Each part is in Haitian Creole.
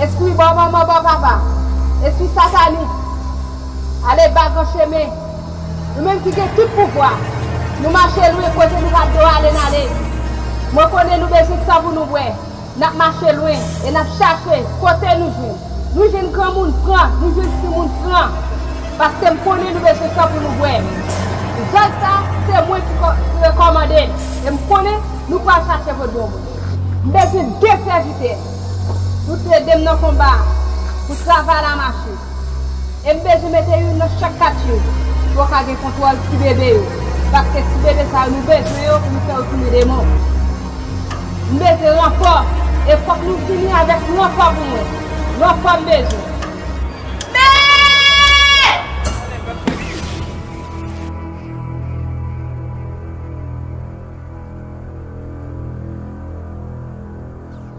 Espri bò manman bò papa, espri satanik, ale ba gran chemen, nou menm ki gen tout pouvwa, nou mache lwen kote nou pa dwe ale nale. Mwen konnen nou bezwen san pou nou bwè. N ap mache lwen e n ap chache kote nou jwenn. Nou jwenn granmoun pran, nou jwenn timoun pran. Paske m konnen nou bezwen san pou nou bwè. Zòn sa a, se mwen ki rekòmande l e m konnen nou pral chache vodou mwen. M bezwen de sèvitè pou t ede m nan konba a, pou travay la mache. E m bezwen mete youn nan chak katye pou yo ka gen kontwòl tibebe yo. Paske tibebe sa yo nou bezwen yo pou nou fè yo tounen demon. Mete ranfò e fòk nou vini avèk ranfò pou mwen. Ranfò m bezwen.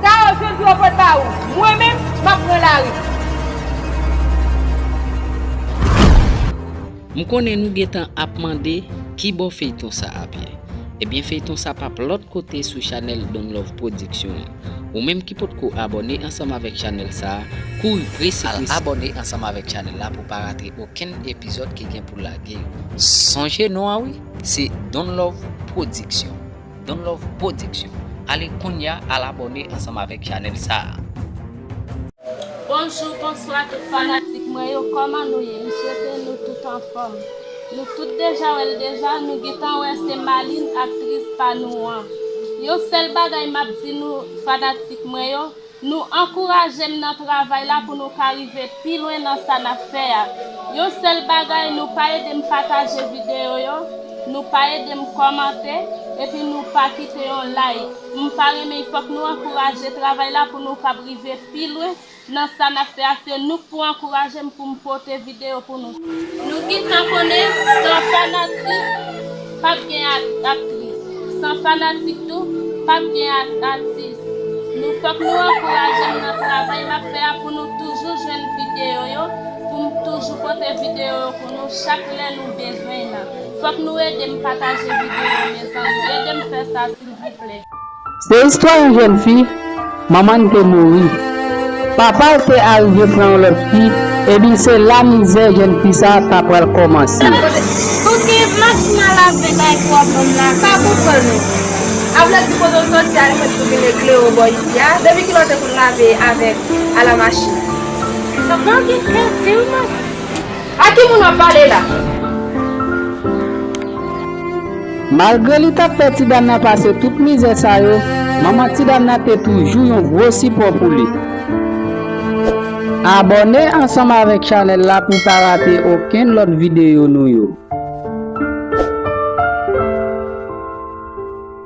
Sa yo jwenn pou yo pot ba ou. Mwen menm, m ap pran lari. M konnen nou gentan ap mande kibò feyton sa ap ye. Ebyen feyton sa pap lòt kote sou chanèl Donlove Production an. Ou menm ki potko abòne ansanm avèk chanèl sa, kouri prese prese al abòne ansanm avèk chanèl la pou pa rate okenn epizòd ki gen pou lage yo. Sonje non an wi, se Donlove Production. Don love production ale kounya al abone ansanm avek chanel sa. Bonjou bonswa tout fanatik mwen yo kòman nou ye m swete nou tout anfòm nou tout deja wèl deja nou gintan wè se Maline aktris pa nou an yon sèl bagay map di nou fanatik mwen yo Nou ankouraje m nan travay la pou nou ka rive pi lwen nan sa nap fè a. Yon sèl bagay nou pa ede m pataje videyo yo, nou pa ede m kòmante, epi nou pa kite yon like. M pa renmen fòk nou ankouraje travay la pou nou kab rive pi lwen nan sa nap fè a se nou k pou ankouraje m pou m pote video pou nou. Nou gntan konnen san fanatik pap gen aktris san fanatik tou pap gen atis nou fòk nou ankourajem nan travay map fè a pou nou toujou jwenn video yo poum toujou pote video yo pou nou chak lè nou bezwen nan fòk nou edem pataje video yo mezanmi edem fè sa silvouplè. Se istwa yon jèn fi, manman n te mouri. Papa l te arive pran yon lòt fi, ebyn se la mizè jèn fi sa ta pral kòmanse. A ki moun wap pale la? Malgre li tap fè ti dam nan pase tout mizè sa yo, manman ti dam nan te toujou yon gwo sipò pou li. Abòne ansanm avèk chanèl la pou pa rate okenn lòt videyo nou yo.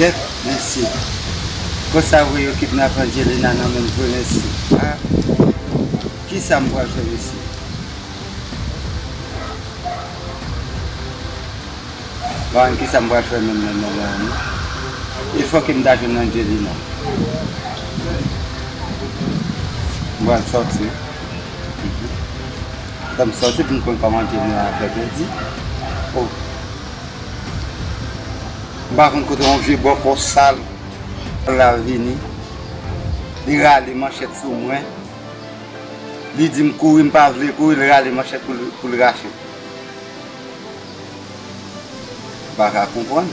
Kèt mesye. Konsa vre yo kidnap Angelina nan menm vre mesye ah kisa m pral fè mesye. Bann kisa m pral fè menm nan moman an non. E fò ke m ta jwenn Angelina. M pral sòti wi. Fò m sòti pou m konn kòman Angelina ap fè kredi oh. M pa konn kote yon vye bòkò sal pral vini. Li rale manchèt sou mwen. Li di m kouri m pa vle kouri li rale manchèt pou l rache l. M pa ka konprann.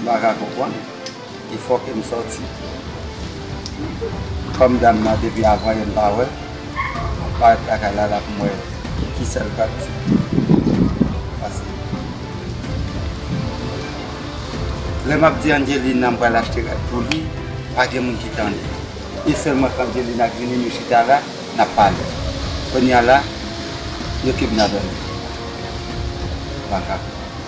M pa ka konprann. E fò ke m sòti. Fanm dam nan depi avan yè m pa wè l. M parèt lakay la la pou m wè ki sa l pral di. Pase. Lè m ap di Angelina m pral achte rad pou li, pa gen moun ki tande. E sèlman k Angelina k vini nou chita la, n ap pale. Kounya la, yo kidnape m. M pa ka.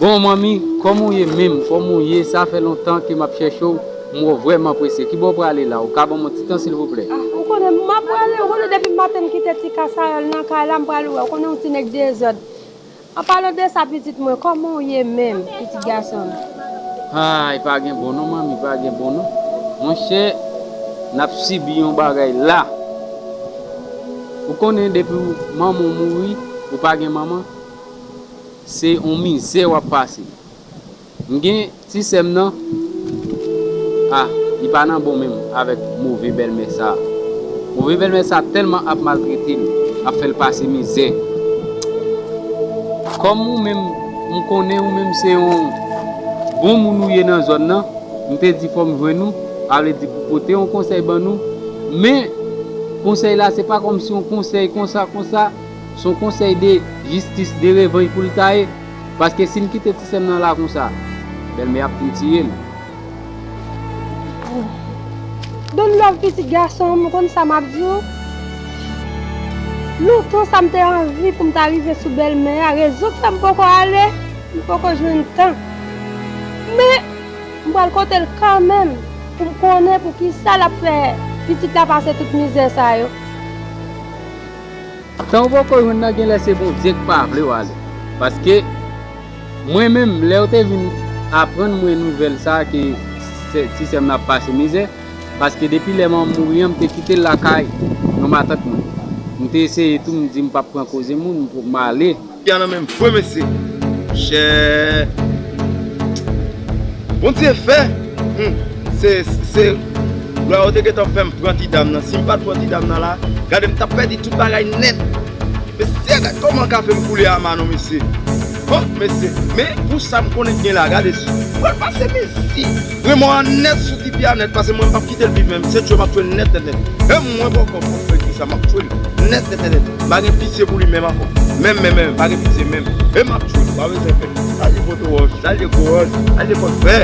Bon manmi kòman ou ye menm kòman ou ye sa fè lontan ke map chèche w m wè w vrèman prese ki bò ou prale la ou ka ban mwen ti tan silvouplè. Ah ou konnen m map prale ou konnen depi maten m kite ti kasayòl nan kay la m prale wè ou konnen yon ti nèg dezòd. An palan de sa pitit mwen koman w ye menm pitit gason m. Haay pa gen bon non manmi pa gen bon non monchè nap sibi yon bagay la ou konnen depiw manman w mouri ou pa gen manman se yon mizè wap pase M gen ti sèm nan ah li pa nan bon menm avèk move bèlmè sa move bèlmè sa tèlman ap maltretel ap fèl pase mizè kòm ou menm m konnen ou menm se yon bon moun ou ye nan zòn nan m te di fòm jwenn ou sa vle di pou pote yon konsèy ban nou men konsèy la se pa kòmsi yon konsèy konsa konsa son konsèy de jistis de revanj poul ta ye. Paske sim kite ti sèm nan la konsa bèlmè ap fin tiyem. Don love pitit gasonm ou konn sa map diw lontan sa mte anvi poum ta rive sou bèlmè a rezon ki fèm poko ale m poko jwenn tan men m pral kotel kanmenm poum konnen poukisa lap fè pitit la pase tout mizè sa yo. Sa ou poko jwenn nan genlè se Bondye k pa vlew ale paske mwen menm lèw te vin aprann mwen nouvèl sa ke ti sèm nan ap pase mizè paske depi lè manmanm mouri an m te kitel lakay yon matant mwen m te eseye tou m di m pap pran koze moun m ale. Piano menm fwe mesye chè Bondye fè humm se se Lwa yo te gentan fèm pran ti dam nan sim pat pran ti dam nan la gade m tap pèdi tout bagay nèt mesye gad kòman kafem koule a Manou mesye oh mesye men pou sam konnen k gen la gade si pral pase mezi. Mwen mò an nèt sou Tifi a nèt pase mwen pap kite l viv menm se tchwe map tchwe l nèt nèt nèt menm mwen bòkò pou l fè kisa map tchwe l nèt nèt nèt nèt m pa gen pitye pou li menm ankò menm menm menm m pa gen pitye menm e map tchwe l pa bezwen pè salye poto wòch salye gwo wòch salye kòk vè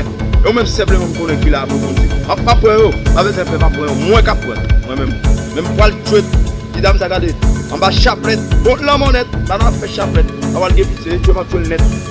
yo menm senpleman m konnen ki la pou moun di map map pran yo pa bezwen pè map pran yo mwen kap pran mwen menm menm m pwal tchwe ti dam sa gade anba chaplèt bon lanmò nèt la nap fè chaplèt pa pwal gen pitye se tchwe map tchwe l nèt.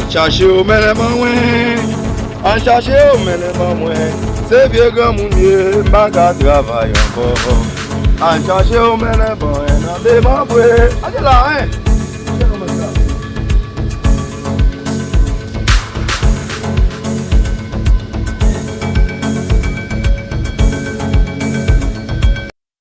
An chache yo mennen ban mwen An chache yo mennen ban mwen Se vye granmoun m ye m pa ka travay ankò An chache yo mennen ban mwen nan demanbre An de la hein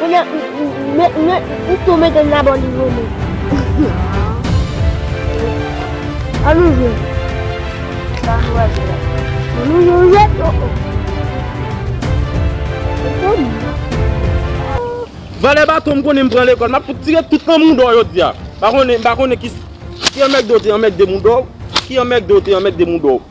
Kounye a, m tou mete l nan bò li vole. An nou jwe. Sa nou pral jwe la? An nou jwe roulèt? O o. Ou fò m nan. Vòlè baton m konnen m pran lekòl. M ap fout tire tout nan mouda w jodi a. M pa konnen, m pa konnen ki anmèkde w te anmèkde mouda w. Ki anmèkde w te anmèkde mouda w.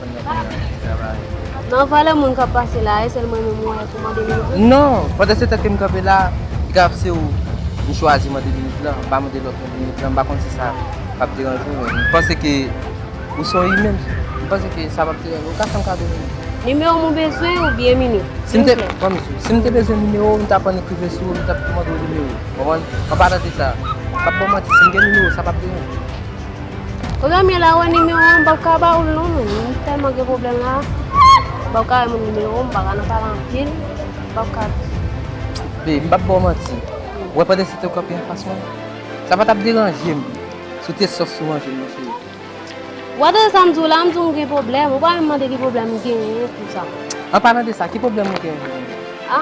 Nan valè moun kap pase la e sèl mwen menm ou wè pou mande li ouvri? Non, pandan se tan kem kanpe la, li ka se ou m chwazi mande limit lan, m pa mande lòt moun limit lan, m pa konn si sa pap deranje ou men m panse ke ou se yon imen, m panse ke sa pap deranje ou, ou ka fèm kado limit lan. Nimewo mwen bezwen ou byen mini, silvouplè. Bon misye, si m te bezwen nimewo ou m tap annik rive sou ou, m tap mande ou nimewo, konprann? An palan de sa, m pap ba w manti, si m gen nimewo sa pap deranje ou. Premye la wè nimewo an m pap ka ba ou l non menn, m tèlman gen pwoblèm la, m pap ka bay moun nimewo m, m pa ka nan pale anpil, m pap ka di. Bebe, m pap ba w manti, ou wè pandan si te kanpe an fas mwen, sa pa t ap deranje m si w te sòf sou ranje m nan cheri. Ou pa tande sa m di w la, m di w m gen pwoblèm, ou pa menm mande ki pwoblèm m genyen tout sa. An palan de sa, ki pwoblèm ou genyen? A?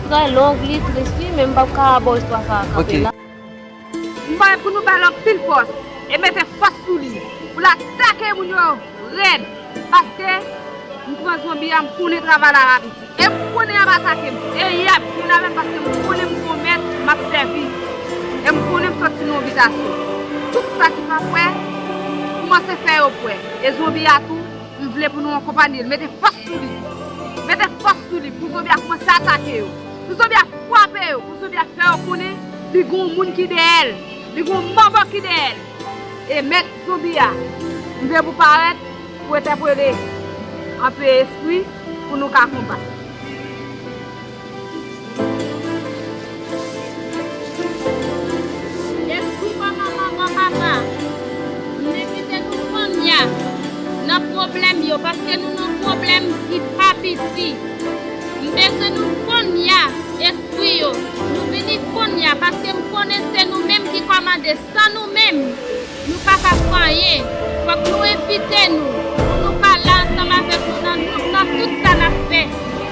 Trè long li tris wi men m pap ka baw istwa sa a kanpe la. M vle pou nou bal anpil fòs e mete fòs sou li pou l atake moun yo rèd paske m pran zonbi a m konnen travay la rap isi e m konnen yap atake m e yap vin avè m paske m konnen m gon mèt map sèvi e m konnen m sòti nan yon bitasyon tout sa ki pa kwè koumanse fè yo kwè e zonbi a tou M vle pou nou ankonpanye l, mete fòs sou li. Mete fòs sou li pou zonbi a koumanse atake yo. Pou zonbi a fwape yo. Pou zonbi a fè yo konnen li gen yon moun ki dèyè l. Li gen yon manman ki dèyè l. E mèt zonbi a, m vle pou w parèt pou entèpele anpe espri pou nou ka konbat. Jesús manman manman papa mne kite nou konnya nan problem yo paske nou nan problem ki pa piti mbezwen nou konnya espri yo nou vini konnya paskem konnen se nou menm ki kòmande san nou menm Nou pa ka san anyen, fòk nou envite nou pou nou pale ansanm avèk nou nan nou nan tout sa nap fè.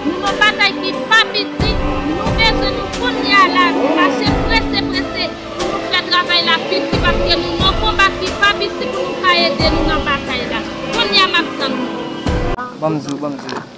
Nou nan batay ki pa piti, nou bezwen nou kounye a la, mache prese prese pou nou fè travay la piti paske nou nan konba ki pa piti pou nou ka ede nou nan batay la. Kounye a map tann nou. Banm di w, banm di w.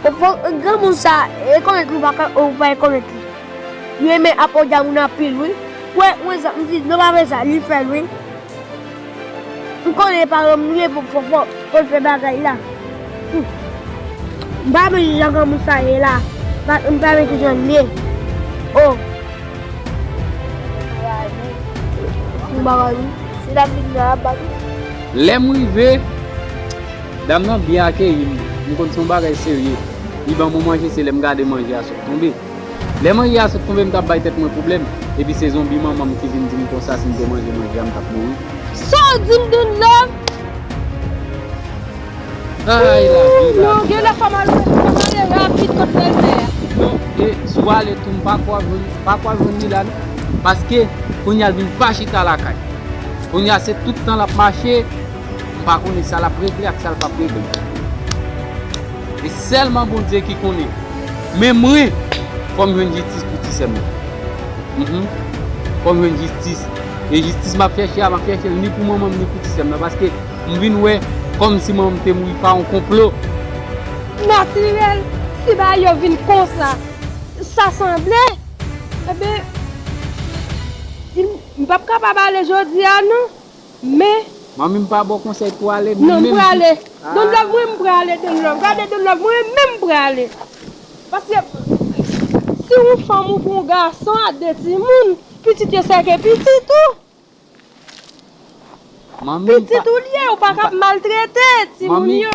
Ou fo granmoun sa rekonèt li ou pa rekonèt li li renmen ap odia moun anpil wi wè mwen sa m di non pa fè sa li fèl wi m konnen e pa renmn li ye pou fofo poul fè bagay la humm m pa renmn jan granmoun sa ye la m pa renmn kijan li ye oh m bagay wi se la m vin la ap bat wi. Lèm rive. Dam nan byen akeyi m, m konn se yon bagay serye. Li ban mwen manje se lè m gade manje a sot tonbe. Lè manje a sot tonbe m t ap bay tèt mwen pwoblèm, epi se zonbi manman m ki vin di m konsa si m te manje manje a m t ap mouri. Sa w di m Doune Love? Ayy lavi, lavi, lavi. Non, gen lè fò m al wè li, fò m ale rapid kot bèlmè a. Non, e si w ale tou m pa kwè w ap jwenn, pa kwè w ap jwenn li la non. Paske, kounya l vin pa chita lakay. Kounya se tout tan l ap mache. M pa konnen sa l ap regle ak sa l p ap regle. E sèlman Bondye ki konnen. Men mwen, fò m jwenn jistis pou ti sè m nan. Fò m jwenn jistis. E jistis m ap chèche a, m ap chèche l ni pou manman m ni pou ti sè m nan. Paske m vin wè kòmsi manman m te mouri pa yon konplo. Natirèl, si bagay yo vin konsa, sa sanble, enben, m p ap kapab ale jodi a non. Men. Manmi m pa baw konsèy pou ale menm menm si ahh. Don love mwen m prale don love gade don love mwen menm m prale paske si yon fanm ou pou yon gason a 2 timoun pitit yo se ke pitit ou pitit ou l ye ou paka ap maltrete timoun yo.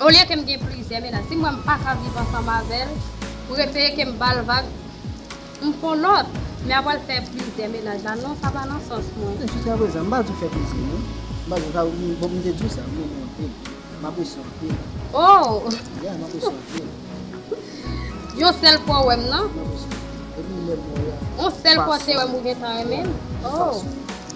Olye kem gen plizyè mennaj sim wèm paka viv ansanm avèl m rete kem bal vag m pwan lòt men apre l fè plizyè mennaj la non sa pa nan sans mwen. Men jiska prezan m pa di w fè plezi non m pa di w sa wi bon m te di w sa m renmen w anpil m apresye w anpil oh yeah m apresye w anpil yon sèl fwa w wèm nan m apresye w anpil depi lèm wè w la yon sèl fwa w te wèm ou gentan renmen m oh.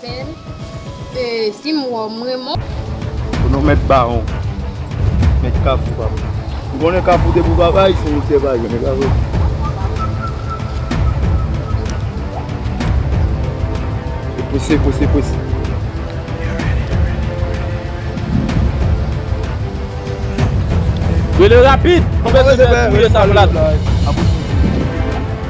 Bel film waww m renmen w. Pou nou met baron. Met kafou papa. Ou konnen kafou depi ou pa bay se yon se pa yon. Pwese pwese pwese. Rele rapid. Mwen bezwen se pou yo sa plat.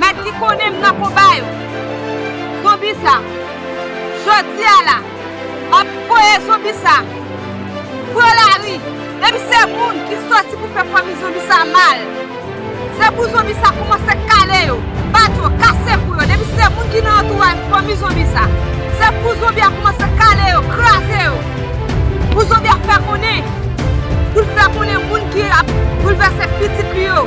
Mèt ki konnen m nan konba yo. Zonbi sa, jodi a la, m ap voye zonbi sa pran lari. Depi se moun ki soti pou fè fanmi zonbi sa mal, se pou zonbi sa koumanse kale yo, bat yo, kase kou yo. Depi se moun ki nan antouray fanmi zonbi sa, se pou zonbi a koumanse kale yo, kraze yo. Pou zonbi a fè konnen, pou l fè konnen moun ki ap boulvèse pitit li yo.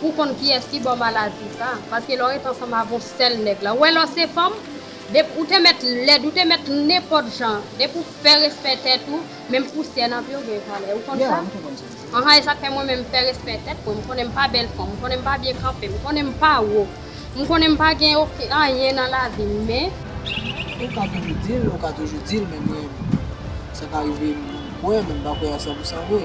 Pou konn kiyès ki baw maladi sa. Paske lè w ret ansanm avè yon sèl nèg la. Ou wè lè w se fanm, depi ou te mèt lèd, ou te mèt nenpòt jan, depi ou fè respè tèt ou, menm pousyè nan pye w gen valè. Ou konn sa? Anhan, e sa k fè mwen menm m fè respè tèt mwen. M konnen m pa bèl fanm, m konnen m pa byen kanpe, m konnen m pa wo, m konnen m pa gen oken anyen nan lavi m, men. Ou ka toujou di l, ou ka toujou di l, men mwen, sa ka rive m kwè, men m pa kwè a sanpousan vre.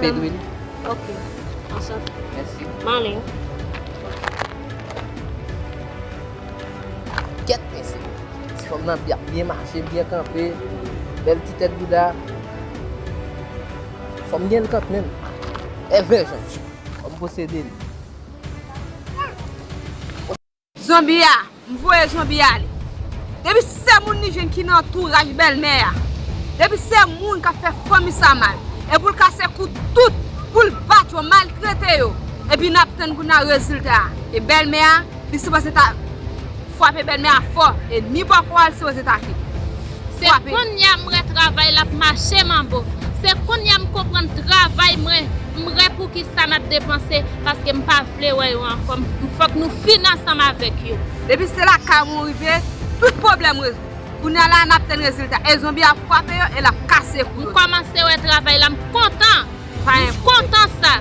Fedwil. Ok. Ansan. Mèsi. Male. Kèt mèsi. Ti fòm nan bya byen mache, byen kanpe. Bèl ti tèt bouda. Fòm gen kant menm. Evè jan. Fòm posede li. Zonbi a, m voye zonbi a ale. Depi se moun li jwenn ki nan antouraj bèlmè a, depi se moun k ap fè fanmi sa mal, e pou l kase kou tout, pou l bat yo, maltrete yo, epi n ap tann kounye a rezilta a. E bèlmè a, li sipoze ta fwape bèlmè a fò, e ni bòkò a li sipoze ta fè. Se kounye a m wè travay l ap mache manbo. Se kounye a m konprann travay mwen, m wè poukisa n ap depanse, paske m pa vle wè yo ankò m fòk nou fin ansanm avèk yo. Depi se lakay mwen ou rive tout pwoblèm rezoud. Kounya la a nap tann rezilta e zonbi ap fwape yo e lap kase kou yo. M kòmanse wè travay la m kontan. M kontan sa.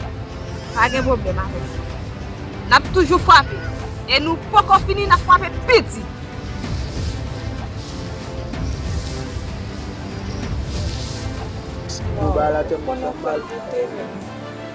Pa gen pwoblèm avèk sa. Nap toujou fwape e nou poko fini nap fwape pi di. Bon bagay la tèt mwen fèm mal.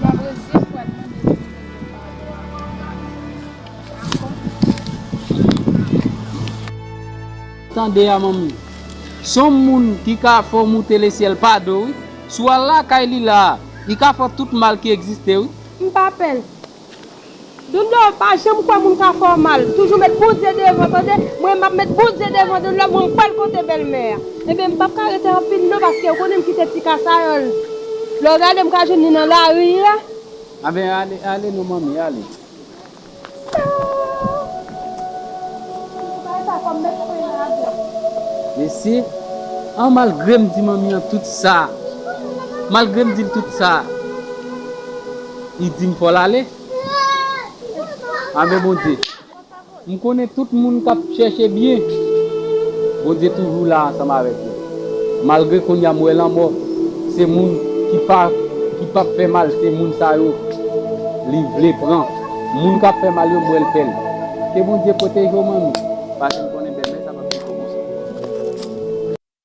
Mwen brezil pral mande dominiken padon avan mwen dakò. Tande a manmi. Son moun ki ka fè w moute le syèl pa do wi. Si w al lakay li la a, li ka fè w tout mal ki egziste wi. M pa pè l. Dondo pa janm kwè moun ka fè w mal toujou met Bondye devan tande mwen map met Bondye devan Dondo mwen pral kote bèlmè a ebyen m pap ka rete anpil non paske ou konnen m kite ti kasayanl lè w gade m ka jwenn li nan lari a. Anben ale ale non manmi ale. Mesi an malgre m di manmi an tout sa malgre m dil tout sa. Li dim fòl ale Ave bondye M konnen tout moun kap chèche byen bondye toujou la ansanm avèk yo malgre kounya m wè lanmò se moun ki pa ki pap fè mal se moun sa yo li vle pran moun kap fè mal yo m wèl fèl ke bondye pwoteje w manmi paske m konnen demè sa pap fini bon konsa.